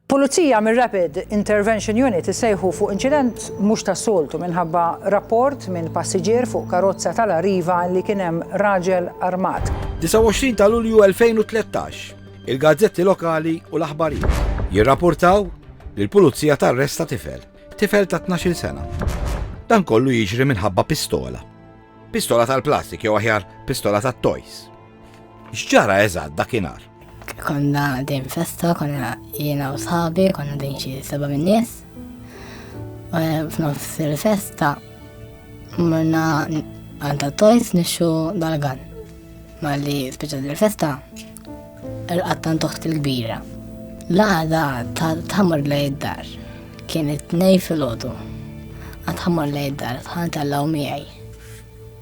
Pulizija mir-Rapid Intervention Unit issejħu fuq inċident mhux tas-soltu minħabba rapport minn passiġġier fuq karozza tal-Arriva li kien hemm raġel armat. 29 ta' Lulju 2013, il-gazzetti lokali u l-aħbarijiet jirrapportaw li l-pulizija tarresta tifel, tifel ta' 12 sena. Dan kollu jiġri minħabba pistola. Pistola tal-plastik jew aħjar pistola tat-toys. X'ġara eżatt dakinhar? Konna dejjem festa, konna jiena u sħabi, konna dejjem xi seba' minn nies. Eh, f'nofs il-festa morna għanta tojs nixxu dal-gan. Ma li speċa il-festa l-qattan toħt il-kbira. L-għada tħammur lej id-dar. Kienet nej fil-ħodu. Għatħammur lej id-dar, tħan tal-law miħaj.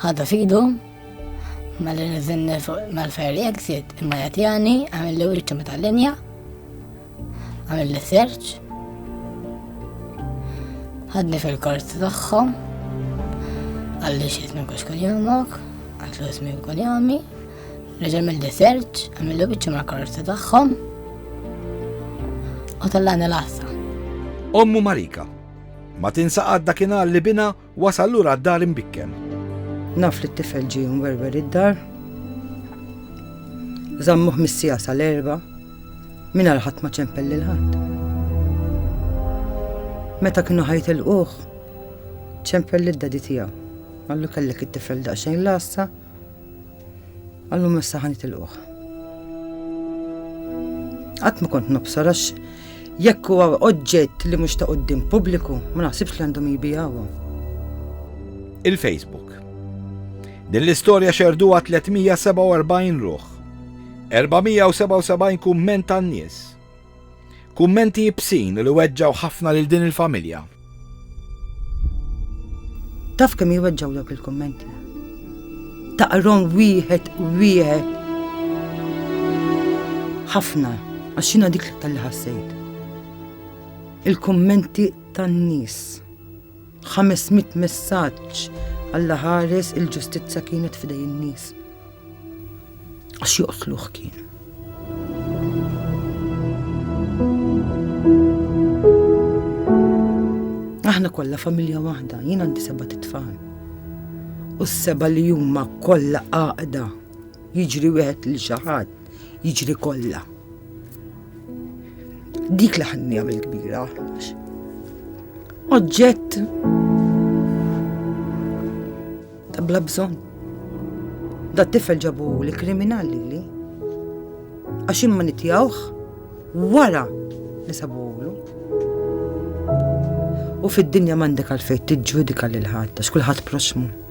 Ħadha fidu, ma li nizinni fuq mal-ferri exit, imma jatjani, għamil li uliċu meta l-linja, għamil li search, ħadni fil-kors tagħhom, għalli xismi kux kun jomok, għallu ismi kun jomi, reġa mill search, għamil li uliċu mal-kors tagħhom, u tal-għana l-assa. Ommu Marika, ma tinsa għadda kien li bina Wasal lura d-dar imbikken. Naf li t-tifel ġie mwerwer id-dar. Zammuh mis-sija sal-erba. Minna l-ħadd ma ċempel lil ħadd. Meta kienu ħajt il-quħ, ċempel lid-dadi tiegħu. Għallu kellek it-tifel daqsxejn lassa. Għallum issa ħan itilquħ. Qatt ma kont nobsor għax jekk huwa oġġett li mhux ta' quddiem pubbliku, ma naħsibx li għandhom jibijawhom. Il-Facebook. Din l-istorja xerduha 347 ruħ. 477 kumment tan-nies. Kummenti ibsin u li weġġgħu ħafna lil din il-familja. Taf kemm jweġġgħu dawk il-kummenti? Taqrom wieħed wieħed. Ħafna, għax jiena dik l-iktar li ħassejt. Il-kummenti tan-nies. 500 messaġġ Alla ħares il-ġustizza kienet f'idej in-nies. Għax joqtluh kien. Aħna kollha familja waħda, jien għandi seba' titfal. U s-seba' li huma kollha għaqda jiġri wieħed li xi ħadd jiġri kollha. Dik li ħanni għamil kbira. Oġġett ta' bla bżonn. Da tifel ġabu li kriminali li. Għax imma nitjawħ wara li sabu U fid-dinja mandek għalfejn tiġġudika lil ħadd għax kulħadd proxmu.